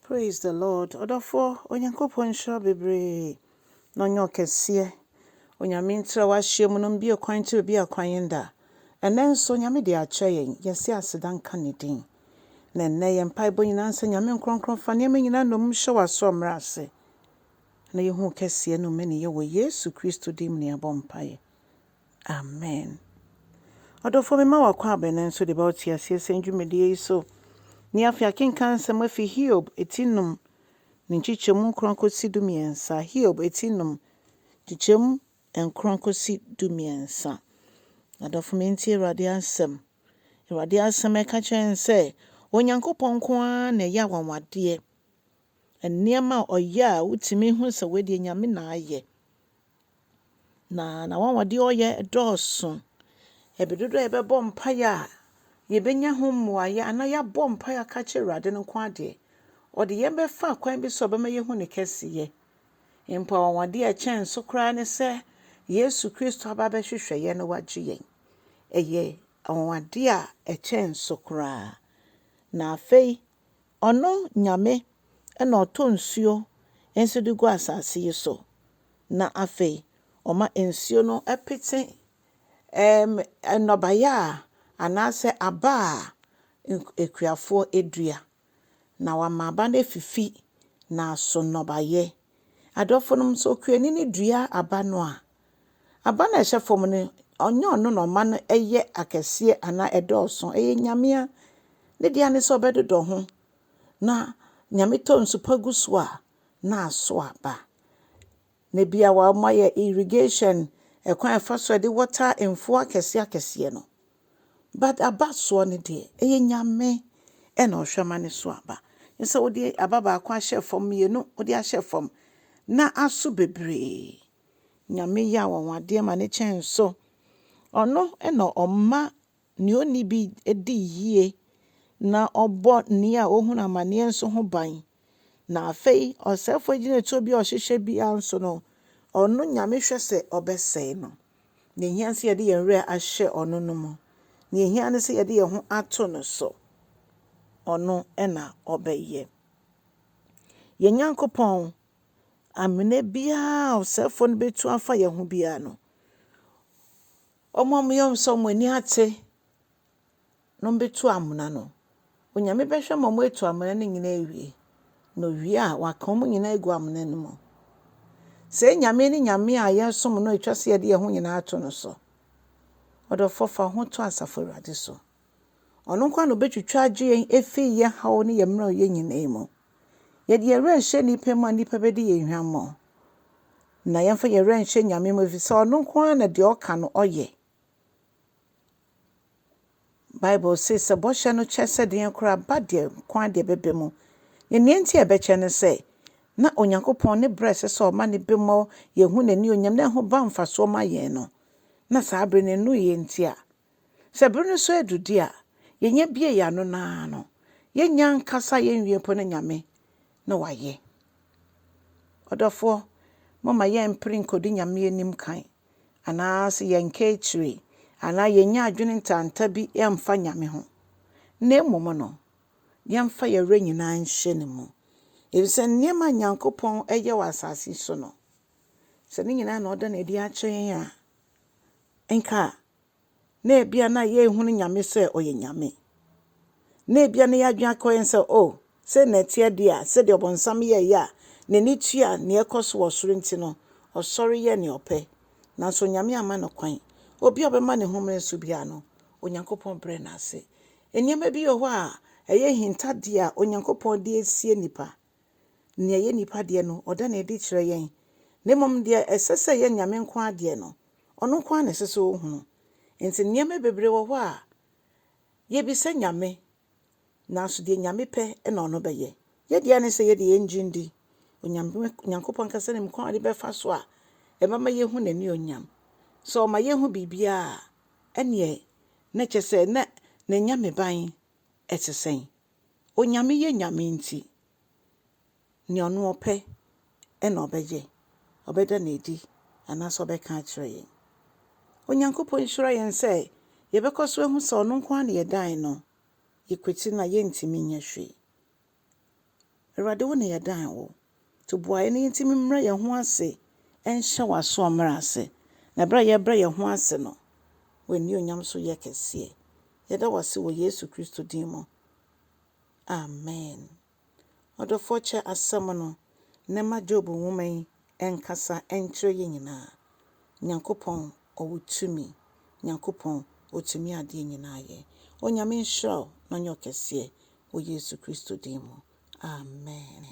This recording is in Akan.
Praise the Lord ɔdɔfoɔ Onyankopɔn nhyira wo bebree na ɔnyɛ wo kɛseɛ Onyame ntra w'ahyeɛ mu no mbue kwan nkyerɛ obi a kwan nda ɛnɛ nso Onyame de akyɛ yɛn yɛse aseda nka ne din na ɛnɛ yɛn mpaebɔ nyinaa nsɛ Nyame nkrɔnkrɔn fa nneɛma nyinaa nnommum hyɛ w'asoɔ mmrɛ ase na yɛhu wo kɛseɛ ne wo mmaniyɛ wɔ Yesu Kristo din mu na yɛabɔ mpaeɛ Amen. Ɔdɔfoɔ mema wo akwaaba no nso de ba wo te aseɛ sɛn dwumadie yi so. Nnɛ afei akenkan nsɛm afi Hiob ti nnum ne nkyekyɛmu nkron kɔsi du mmiɛnsa, Hiob ti nnum nkyekyɛmu nkron kɔsi du mmiɛnsa. Adɔfo me ntie Awurade asɛm. Awurade asɛm ɛka kyerɛ yɛn sɛ Onyankopɔn nko ara na ɛyɛ awanwadeɛ. Nneɛma a ɔyɛ a wotumi hu sɛ wei deɛ Nyame na ayɛ. Na n'anwanwadeɛ a ɔyɛ dɔɔso. Ɛberɛ dodoɔ a yɛbɛbɔ mpaeɛ a, yɛbɛnya ho mmuaeɛ anaa yɛabɔ mpaeɛ aka akyerɛ Awurade no nko ara deɛ, ɔde yɛn bɛfa kwan bi so a ɔbɛma yɛahu ne kɛseyɛ. Mpo anwanwadeɛ a ɛkyɛn so koraa ne sɛ Yesu Kristo aba abɛhwehwɛ yɛn na wagye yɛn. Ɛyɛ anwanwadeɛ a ɛkyɛn so koraa. Na afei, Ɔno Nyame na ɔtɔ nsuo nso de gu asase yi so, na afei ɔma nsuo no pete ɛɛm nnɔbaeɛ a anaasɛ aba a akuafoɔ dua, na wama aba no afifi, na aso nnɔbaeɛ. Adɔfonom nso, okuani no dua aba no a, Aba no a ɛhyɛ fam no, ɔnyɛ ɔno na ɔma no yɛ akɛseɛ anaa ɛdɔɔso. Ɛyɛ Nyame a ne dea ne sɛ ɔbɛdodɔ ho. Na Nyame tɔ nsu pa gu so a, na aso aba. Na bi a wɔayɛ irrigation, ɛkwan a ɛfa so a ɛde water mfuo akɛseɛ akɛseɛ no. But aba soɔ no deɛ, ɛyɛ Nyame na ɔhwɛ ma no so aba. Ne sɛ wode aba baako ahyɛ fam, mmienu wode ahyɛ fam, na aso bebree. Nyame yɛ awanwadeɛ ma ne kyɛn so. Ɔno na ɔma nea ɔnni bi di yie, na ɔbɔ nea ɔhunu amaneɛ nso ho ban. Na afei ɔsɛefoɔ agyinatuo bi a ɔhyehyɛ biara nso no, ɔno Nyame hwɛ sɛ ɔbɛsɛe no. Nea ɛhia ne sɛ yɛde yɛn werɛ ahyɛ ɔno no mu. Nea ɛhia ne sɛ yɛde yɛn ho ato no so. Ɔno na ɔbɛyɛ. Yɛn Nyankopɔn Amena biara a ɔsɛefoɔ no bɛtu afa yɛn ho biara no, wɔn a wɔyɛ sɛ wɔn ani ate na wɔbɛtu amena no, Onyame bɛhwɛ ma wɔatu amena no nyinaa awie. Na owie a, waka wɔn nyinaa agu amena no mu. Sɛ Nyame ne Nyame a yɛsom no ɛtwa sɛ yɛde yɛn ho nyinaa to no so. Ɔdɔfoɔ fa ho to Asafo Awurade so. Ɔno nko na ɔbɛtwitwa agye yɛn ɛfiri yɛn haw ne yɛn mmerɛwyɛ nyinaa mu. Yɛde yɛn werɛ nhyɛ nnipa mu a, nnipa bɛdi yɛn hwammɔ. Na yɛmfa yɛn werɛ nhyɛ Nyame mu, ɛfiri sɛ ɔno nko ara na deɛ ɔka no ɔyɛ. Bible se sɛ bɔhyɛ no kyɛ sɛ deɛn koraa ba deɛ nko ara deɛ ɛbɛba mu. Na nea nti a ɛbɛkyɛ ne sɛ, na Onyankopɔn ne berɛ a ɛsɛ sɛ ɔma ne bemmɔ, yɛhu n'anionyam na ɛho ba mfasoɔ ma yɛn no, na saa berɛ no ɛnnuiɛ nti a Sɛ bere no so adu de a, yɛnyɛ bue yɛn ano no ara no, yɛnnya nkasa yɛnwie mpo na Nyame na wayɛ. Ɔdɔfoɔ, momma yɛmpere nkɔdi Nyame anim kan, anaase yɛnka akyire, anaa yɛnnya adwene ntanta bi mfa Nyame ho, na mmom no, yɛmfa yɛn werɛ nyinaa nhyɛ Ne mu. Efisɛ nneɛma a Nyankopɔn yɛ wɔ asase so no, sɛ ne nyinaa na ɔda no adi akyerɛ yɛn a, nka na ebia na yɛnhunu Nyame sɛ ɔyɛ Nyame. Na ebia na yɛadwene akɔ yɛn sɛ, oh, sɛ na ɛteɛ deɛ a, sɛdeɛ ɔbɔnsam yɛeɛ a, n'ani tua nea ɛkɔ so wɔ soro nti no, ɔsɔre yɛ nea ɔpɛ. Nanso Nyame amma no kwan. Obi a ɔbɛma ne ho mmere so biara no, Onyankopɔn brɛ no ase. Nneɛma bi wɔ hɔ a, ɛyɛ ahintadeɛ a Onyankopɔn de asie nnipa. Nea ɛyɛ nnipa deɛ no, ɔda no adi kyerɛ yɛn, na mmom deɛ ɛsɛ sɛ ɛyɛ Nyame nko ara deɛ no, ɔno nko ara na ɛsɛ sɛ ɔhunu. Enti nneɛma bebree wɔ hɔ a, yɛbisa Nyame, nanso deɛ Nyame pɛ na ɔno bɛyɛ. Yɛn deɛ ara ne sɛ yɛde yɛn gye ndi Onyame Nyankopɔn ankasa nim kwan a ɔde bɛfa so a ɛbɛma yɛahu n'anuonyam. Sɛ ɔma yɛhu biribiara a, ɛnneɛ na kyerɛ sɛ na n'anyameban te sɛn? Onyame yɛ Nyame nti, nea ɔno ɔpɛ na ɔbɛyɛ, ɔbɛda no adi anaasɛ ɔbɛka akyerɛ yɛn. Onyankopɔn nhyira yɛn sɛ yɛbɛkɔ so ahu sɛ ɔno nko ara na yɛdan no, yɛkwati no a yɛntumi nyɛ hwee. Awurade wo na yɛdan wo. Toboaeɛ no nti memmrɛ yɛn ho ase nhyɛ w'asoɔmmerɛ ase, na berɛ a yɛbrɛ yɛn ho ase no, w'anuonyam so yɛ kɛseɛ. Yɛda wo ase wɔ Yesu Kristo din mu, amen. Ɔdɔfoɔ kyɛ asɛm no na ma Job nwoma yi nkasa nkyerɛ yɛn nyinaa. Nyankopɔn ɔwɔ tumi, Nyankopɔn ɔtumi adeɛ nyinaa yɛ. Onyame nhyira wo na ɔnyɛ wo kɛseɛ wɔ Yesu Kristo din mu, amen.